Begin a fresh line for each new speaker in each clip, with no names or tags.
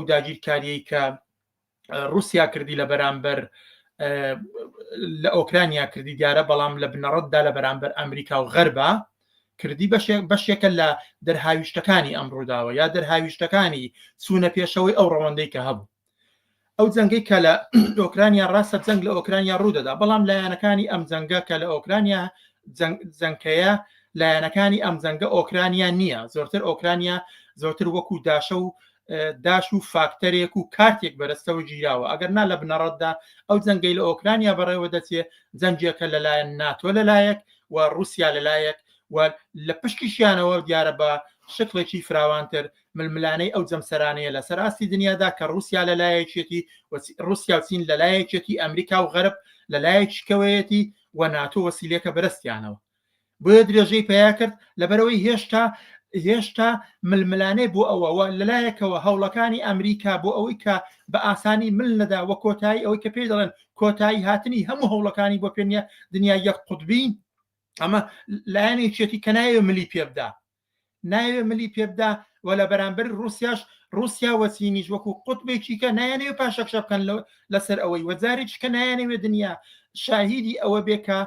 ئەو داگیرکاریەی کە رووسیا کردی لە بەرامبەر لە ئۆکرانیا کردی دیارە بەڵام لە بنەڕەتدا لە بەرامبەر ئەمریکا و غەربە کردی بەشێکە لە دەرهاویشتەکانی ئەم ڕووداوە یا دەرهاویشتەکانی چوونە پێشەوەی ئەو ڕەوەندەی کە هەبوو ئەو جەنگەی کە لە ئۆکرانیا ڕاستە جەنگ لە ئۆکرانیا ڕوودەدا بەڵام لایەنەکانی ئەم جەنگە کە لە ئۆکرانیا جەنکەیە لایەنەکانی ئەم جەنگە ئۆکرانیا نییە زۆرتر ئۆکرانیا زۆرتر وەکو داشە و داش و فاکتەرێک و کارتێک بەرەستەوە گیراوە ئەگەر نا لە بنەڕەتدا ئەو جەنگەی لە ئۆکرانیا بەڕێوە دەچێ جەنجێکە لەلایەن ناتۆ لەلایەک و رووسیا لەلایەک و لە پشتیشیانەوە دیارە بە شکڵێکی فراوانتر ململانەی ئەو جەمسەرانەیە لە سەراستی دنیادا کە رووسیا لەلایەکێتی رووسیا و چین لەلایەکێتی ئەمریکا و غەرب لەلایەکیکەوەیەتی و ناتۆ وەسیلێکە بەرەستیانەوە بۆیە درێژەی پیا کرد لەبەرەوەی هێشتا هێشتا ململانێ بۆ ئەوەوە لەلایەکەوە هەوڵەکانی ئەمریکا بۆ ئەوەی کە بە ئاسانی مل نەدا وە کۆتایی ئەوەی کە پێی دەڵێن کۆتایی هاتنی هەموو هەوڵەکانی بۆ پێنیە دنیا یەک قوتبی ئەمە لایەنێکێتی کە نایە ملی پێبدا نایەوێ ملی پێ بدا و لە بەرامبەر ڕووسیاش ڕووسیا و چینیش وەکو قوتبێکی کە نایانەوێ پاشەکشە بکەن لەسەر ئەوەی وە جارێکی کە نایانەوێ دنیا شاهیدی ئەوە بێ کە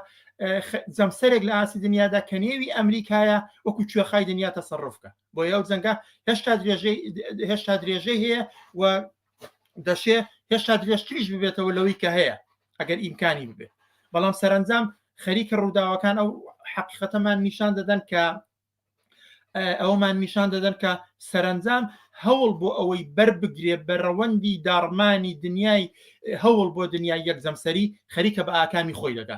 جەمسەرێک لە ئاسی دنیادا کە نێوی ئەمریکایە وەکو کوێخای دنیا تەسەڕفکە بۆ یاو جەنگە هێشتا درێژەی هێشتا درێژەی هەیە و دەشێ هێشتا درێژتریش ببێتەوە لەوەی کە هەیە ئەگەر ئیمکانی ببێت بەڵام سەرنجام خەریکە ڕووداوەکان ئەو حەقیقەتەمان نیشان دەدەن کە ئەومان نیشان دەدەن کە سەرنجام هەوڵ بۆ ئەوەی بربگرێ بە ڕەوەندی داڕمانی دنیای هەوڵ بۆ دنیای یەک جەمسەری خەریکە بە ئاکامی خۆی دەدا